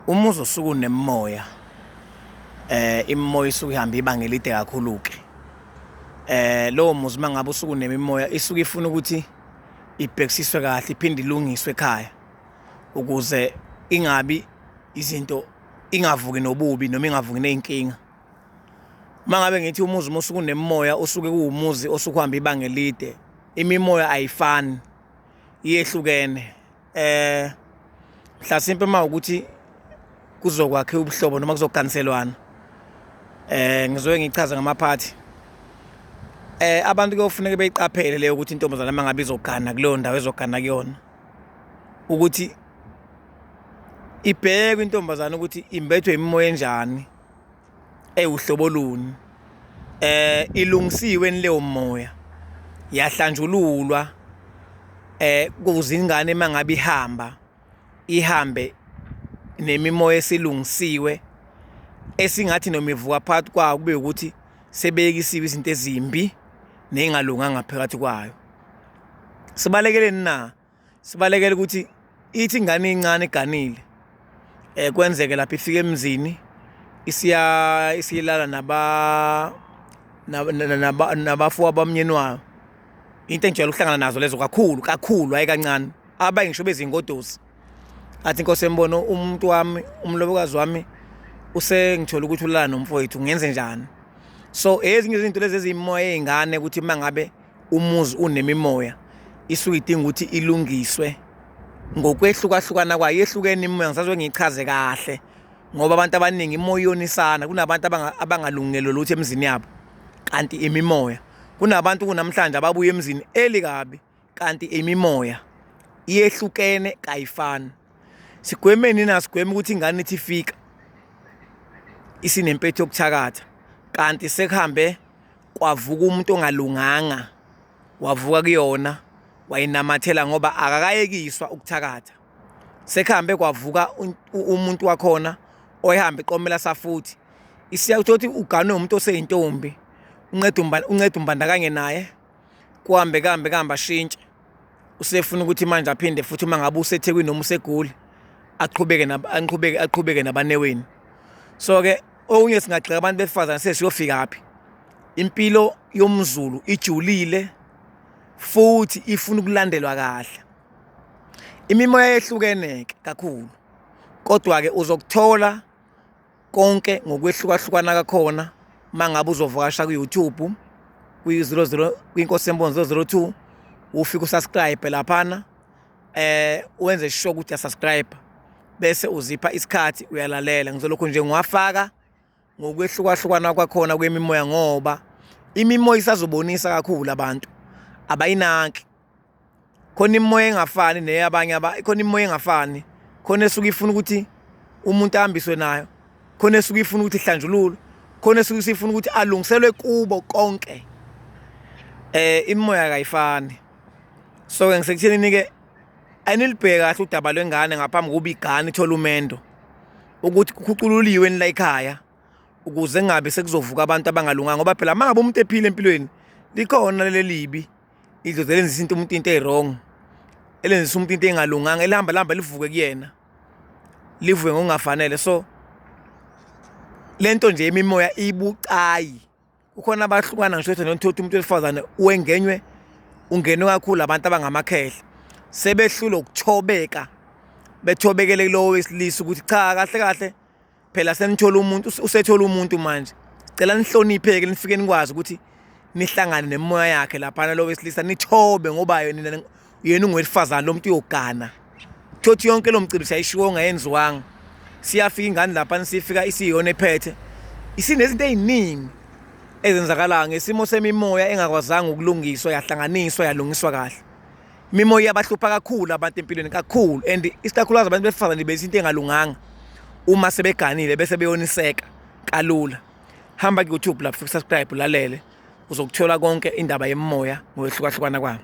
Uma uzosuka unemimoya eh imimoya isuke ihamba ibanga elide kakhulu ke eh lowo muzi mangabe usuku nemimoya isuke ifuna ukuthi ibhekisiswe kahle iphinde ilungiswe ekhaya ukuze ingabi izinto ingavuki nobubi noma ingavuki nezinkinga mangabe ngithi umuzi musuku nemimoya usuke kuwumuzi osukuhamba ibanga elide imimoya ayifani iyehlukene eh mhlasimpe uma ukuthi kuzokwakhe ubuhlobo noma kuzoganiselwana eh ngizoke ngichaze ngamaphathi eh abantu kuyofuneka beyiqaphele leyo ukuthi intombazana uma ngabe izogana kuleyo ndawo ezogana kuyona ukuthi ibheke intombazana ukuthi imbethwe imimoya enjani Eyi uhlobo luni eh ilungisiwe leyo moya yahlanjululwa eh kuze ingane mangabe ihamba ihambe nemimoya esilungisiwe esingathi noma ivuka phakathi kwayo kube ukuthi sebeyekisiwe izinto ezimbi nezingalunganga phakathi kwayo sibalekeleni na sibalekela ukuthi ithi ingane incane iganile eh kwenzeke lapha ifike emzini isiya isiyilala naba naba nabafu abamnyeni wayo into enjalo ukuhlangana nazo lezo kakhulu kakhulu hayi kancane abayi ngisho bezingodosi athi inkosi embono umuntu wami umlobokazi wami usengithola ukuthi ulala nomfowethu ngenze njani so ezinye izinto lezi ezimoya ezingane ukuthi mangabe umuzi unemimoya isuke idinga ukuthi ilungiswe ngokwehlukahlukana kwayo yehlukene imimoya ngisazwe ngiyichaze kahle ngoba abantu abaningi imoya iyonisana kunabantu abangalungelwe lutho emzini yabo kanti imimoya kunabantu kunamhlanje ababuye emzini eli kabi kanti imimoya iyehlukene kayifani sigwemeni na sigweme ukuthi ingane ithi fika isinempetho yokuthakatha kanti sekuhambe kwavuka umuntu ongalunganga wavuka kuyona wayinamathela ngoba akakayekiswa ukuthakatha sekuhambe kwavuka umuntu wakhona oyihambe iqomela safuthi isiya uthi uganwe umuntu oseyintombi unceda umbandakanye naye kuhambe kambe kambe ashintshe usefuna ukuthi manje aphinde futhi uma ngabe usethekwini noma usegoli aqhubeke aqhubeke aqhubeke nabaneweni so ke okunye singagxeka abantu besifazane sesiyofika phi impilo yomzulu ijulile futhi ifuna ukulandelwa kahle imimoya yehlukeneke kakhulu kodwa ke uzokuthola konke ngokwehlukahlukana kakhona uma ngabe uzovakasha ku-youtube kwi-00 kwinkosi yemboni 002 ufike usubscribe laphana eh wenze sure ukuthi uyasubscribe bese uzipha isikhathi uyalalela ngizolokhu nje ngiwafaka ngokwehlukahlukana kwakhona kwemimoya ngoba imimoya isazobonisa kakhulu abantu abayinaki khona imimoya engafani neyabanye aba khona imimoya engafani khona esuke ifuna ukuthi umuntu ahambiswe nayo khona esuke ifuna ukuthi ihlanjululwe khona esuke sifuna ukuthi alungiselwe kubo konke eh imimoya kayifani so ke ngisekuthini nike anilibheke kahle udaba lwengane ngaphambi kokuba igane ithole umendo ukuthi kukhucululiwe nila ekhaya ukuze ngabe sekuzovuka abantu abangalunganga ngoba phela mangabe umuntu ephile empilweni likhona lelibi idlozi elenzisa into umuntu into eyi-wrong elenzisa umuntu into engalunganga elihamba lihamba livuke kuyena livuke ngokungafanele so le nto nje imimoya ibucayi kukhona abahlukana ngisho ukuthi nothotha umuntu wesifazane wengenywe ungenwe kakhulu abantu abangamakhehla sebehlule ukuthobeka bethobekele kulowo wesilisa ukuthi cha kahle kahle phela senithola umuntu usethola umuntu manje cela nihlonipheke nifike nikwazi ukuthi nihlangane nemoya yakhe laphana lo wesilisa nithobe ngoba yena yena ungowesifazane lo muntu uyogana thothi yonke lo mcimbi siyayishiwo ngayenziwanga siyafika ingane laphana sifika isiyona ephethe isinezinto eziningi ezenzakalayo ngesimo semimoya engakwazanga ukulungiswa yahlanganiswa yalungiswa kahle Imimoya iyabahlupha kakhulu abantu empilweni kakhulu and isikakhulukazi abantu besifazane bese into engalunganga uma sebeganile bese beyoniseka kalula hamba ku-youtube lapho subscribe ulalele uzokuthola konke indaba yemoya ngokwehlukahlukana kwabo